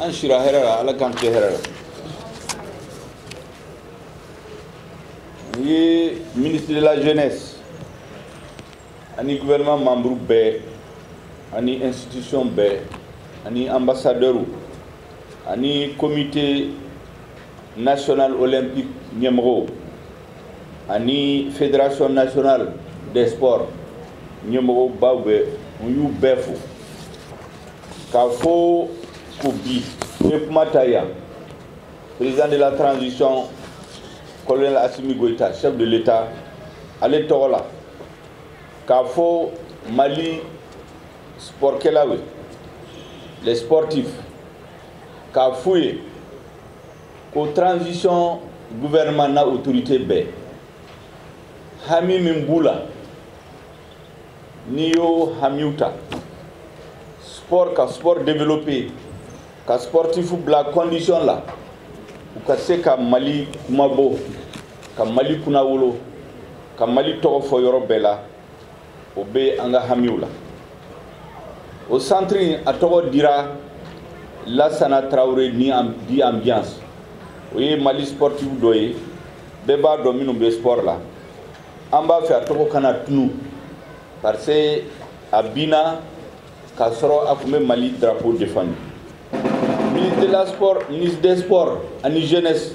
an sira hɛrɛ la ala k'an tile hɛrɛ la n ye ministre de la jeunesse ani gouvernement membre bɛɛ ani institution bɛɛ ani ambassadeurw ani comité national olympique ɲɛmɔgɔw ani fédération nationale des sports ɲɛmɔgɔbaw bɛɛ n y'u bɛɛ fo k'a fɔ ko bi n ye kuma ta yan président de la transition colonel asimi goyita chef de l'état ale tɔgɔ la k'a fɔ mali spɔrikɛlaw ye les sportifs k'a f'u ye ko transition gouvernement n'a autorité bɛɛ hami min b'u la n'i y'o hamiw ta sport ka sport développer ka sportifu bila condition la u ka se ka mali kunmabɔ ka mali kunnawolo ka mali tɔgɔ fɔ yɔrɔ bɛɛ la o bɛ an ka hamiw la o santiri a tɔgɔ dira lasana traoré dit ambiance o ye mali sportif dɔ ye bɛɛ b'a dɔn minnu bɛ sport la an b'a fɛ a tɔgɔ kana tunu parce que a binna k'a sɔrɔ a tun bɛ mali drapeau defandi ministre de la sport ministre des sports ani jeunesse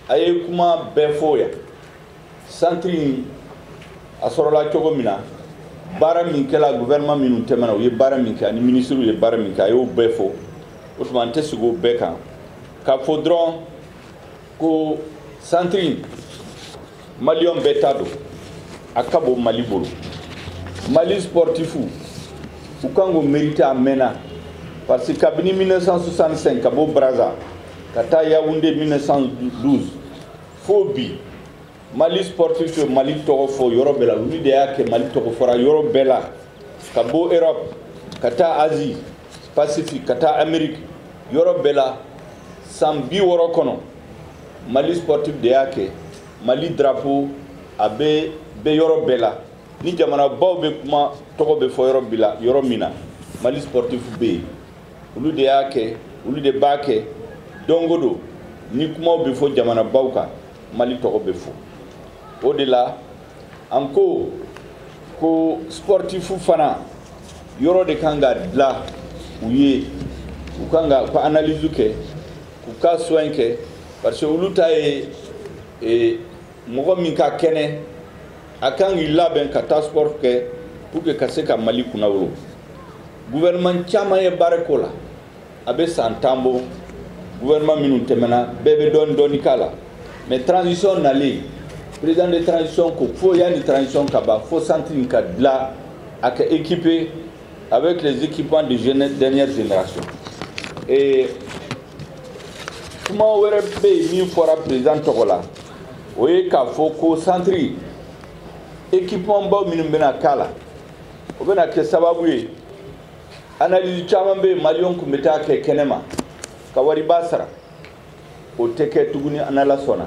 a ye kuma bɛɛ fɔ yan santiri a sɔrɔla cogo min na baara min kɛla gouvernement minnu tɛmɛna u ye baara min kɛ ani minisiriw ye baara min kɛ a y'o bɛɛ fɔ o tuma n tɛ segin o bɛɛ kan k'a fɔ dɔrɔn ko santiri malien bɛɛ ta don a ka bon mali bolo mali sportifu u kan k'o mériter a mɛnna parce que kabini 1965 ka bɔ braza ka taa yawunde 1912 fo bi mali sportifu ye mali tɔgɔ fɔ yɔrɔ bɛɛ la olu de y'a kɛ mali tɔgɔ fɔra yɔrɔ bɛɛ la ka bɔ europe ka taa asie pacifique ka taa amérique yɔrɔ bɛɛ la san bi wɔɔrɔ kɔnɔ mali sportif de y'a kɛ mali drapeau a bɛ bɛ yɔrɔ bɛɛ la ni jamanabaw bɛ kuma tɔgɔ bɛ fɔ yɔrɔ bɛɛ la yɔrɔ min na mali sportif bɛ yen olu de y'a kɛ olu de b'a kɛ don o don ni kumaw bɛ fɔ jamanabaw kan mali tɔgɔ bɛ fɔ o de la an ko ko sportifu fana yɔrɔ de kan ka dilan u ye u kan ka u ka analyse kɛ k'u ka soin kɛ parce que olu ta ye e, mɔgɔ min ka kɛnɛ a kan k'i labɛn ka taa sport kɛ pour que ka se ka mali kunnawolo gouvernement caman ye baara k'o la a bɛ san tan bɔ gouvernement minnu tɛmɛna bɛɛ bɛ dɔɔni dɔɔni k'a la mais transition nalen président de transition ko fo yanni transition ka ban fo centre in ka dilan a ka équiper Avec les équipements de jeunesse dernière génération. Et kuma wɛrɛ bɛ yen min fɔra président tɔgɔ la o ye k'a fɔ ko centre équipement baw minnu bɛna k'a la o bɛna kɛ sababu ye analyse caman bɛ yen maliyɛnw tun bɛ taa kɛ kɛnɛma ka wariba sara o tɛ kɛ tuguni n'ala sɔnna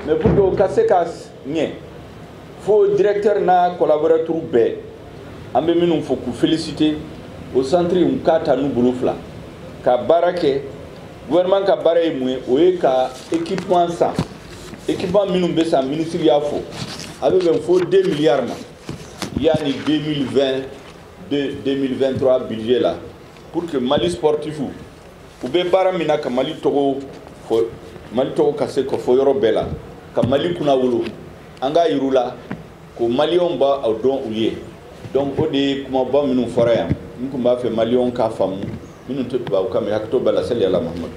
mais pour que o ka se ka ɲɛ fo directeur n'a collaborateur bɛɛ an bɛ minnu fo k'u féliciter o centre in k'a ta n'u bolo fila ka baara kɛ gouvernement ka baara ye mun ye o ye ka équipement san équipement minnu bɛ san ministre y'a fɔ a bɛ bɛn fo 2 milliards ma yanni 2020 2023 budget la pour que mali sportif u bɛ baara min na ka mali tɔgɔ fɔ mali tɔgɔ ka se ka fɔ yɔrɔ bɛɛ la ka mali kunnawolo an k'a yir'u la ko maliyɛnw b'a dɔn u ye donc o de ye kumaba minnu fɔra yan n tun b'a fɛ maliyɛnw k'a faamu minnu tɛ tubabukan mɛn hakɛto b'a la sali ala muhamadu